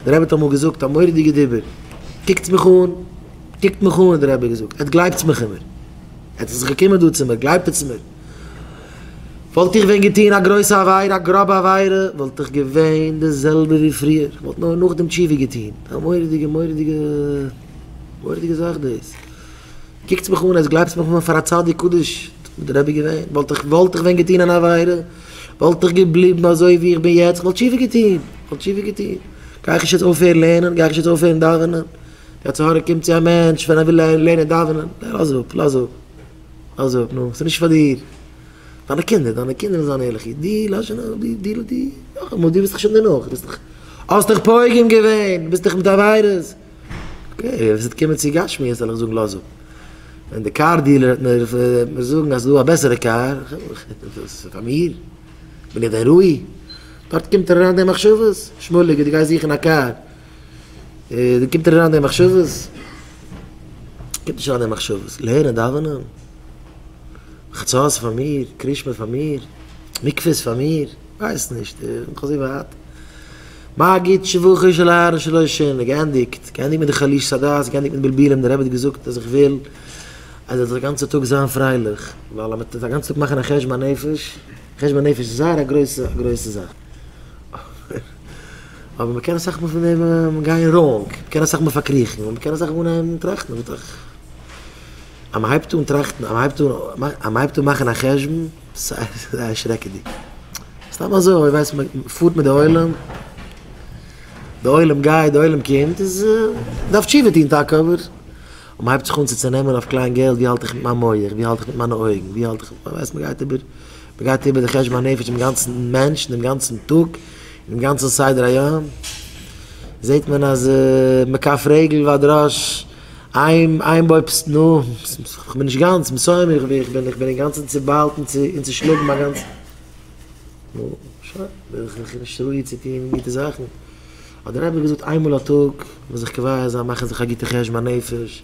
דער רבי האט אמאל געזאגט א מורא'דיגע דיבור, קוקטס מיך אן, קוקט מיך אן האט דער רבי געזאגט, עטס גלייבטס מיך אימער, עטס איז געקומען דא צו מיר, גלייבט עטס מיר, וואלט איך ווען געטון א גרויסע עבירה, א גראבע עבירה, וואלט איך געווען די זעלבע ווי פריער, איך וואלט נאר נאכדעם תשובה געטון, א מורא'דיגע מורא'דיגע מורא'דיגע זאך דאס, קוקטס מיך אן, עטס גלייבטס מיך אימער פאר א צדיק קדוש וואלט דער רבי געווען, וואלט איך ווען געטון אן עבירה. וואלט איך געבליבן אזוי ווי איך בין יעצט, איך וואלט תשובה געטון, איך וואלט תשובה געטון, גיי איך נישט יעצט אויפהערן לערנען, גיי איך נישט יעצט אויפהערן דאווענען, די יצר הרע קומט צו א מענטש ווען ער וויל לערנען דאווענען, גיי לאז אפ, לאז אפ, לאז אפ, נו, ס'איז נישט פאר דיר, דיינע קינדער, דיינע קינדער וועלן זיין ערליך אידן, דו לאז שוין, דו, דו, דו, נאכאמאל, דו וועסט דאך שוין דערנאך, דו ביסט דאך, האסט דאך פוגם געווען, ביסט דאך מיט עבירות. אוקיי, ווען ס'וועט קומען צו גשמיות וועל איך זאגן לאז אפ. ווען די קאר דיעלער וועט מיר וועט מיר זאגן אז ס'דא א בעסערע קאר, פאר מיר? בין איך דען ראוי? דארט קומט אריין די מחשבות, שמואליק דו גייסט זוכן א קאר, דא קומט אריין די מחשבות? קומט נישט אריין די מחשבות, לערנען דאווענען, חצות איז פאר מיר, קרישמע איז פאר מיר, מקווה איז פאר מיר, כ'ווייס נישט, איך בין נאך אזוי ווייט. מגיד שבחו של הר ר שלא עשן, געענדיגט, געענדיגט מיט די חלישות הדעת, געענדיגט מיט די בלבולים, דער רבי האט געזאגט אז איך וויל אז ער זאל א גאנצע טאג זיין פרייליך, ווייל אז מען טוט א גאנצע טאג מאכן א חשבון הנפש, חשבון הנפש איז זייער א גרויסע א גרויסע זאך, אבער מען קען אסאך מאל פון דעם גיין ראונג, מען קען אסאך מאל פארקריכן, און מען קען אסאך מאל אנהייבן טראכטן, אז מען הייבט אן טראכטן, אז מען הייבט אן מאכן א חשבון, זייער שרעקעדיג. סתם אזוי ווייסט מען פארט מיט די עולם, די עולם גייט די עולם קומט איז דארף תשובה טון טאקע אבער און מ'הייבט זיך אן צו צונעמען אויף קליין געלט ווי האלט איך מיט מיין מח ווי האלט איך מיט מיינע אויגן ווי האלט איך ווייסט מען גייט איבער מ'גייט איבער די חשבון הנפש דעם גאנצן מענטש דעם גאנצן טאג דעם גאנצן סדר היום זעט מען אז מקף רגל ועד ראש איין איין בויבסט נא, איך בין נישט גאנץ מסוים איך איך בין איך בין אינגאנצן צוביילט און צושלאגן מיין גאנצע נא שוין בין איך איך נישט ראוי צו טוהן גוטע זאכן האט דער אייבערשטער געזאגט איינמאל א טאג מוז איך כוואי זיין מאכן זיך א גוטע חשבון נפש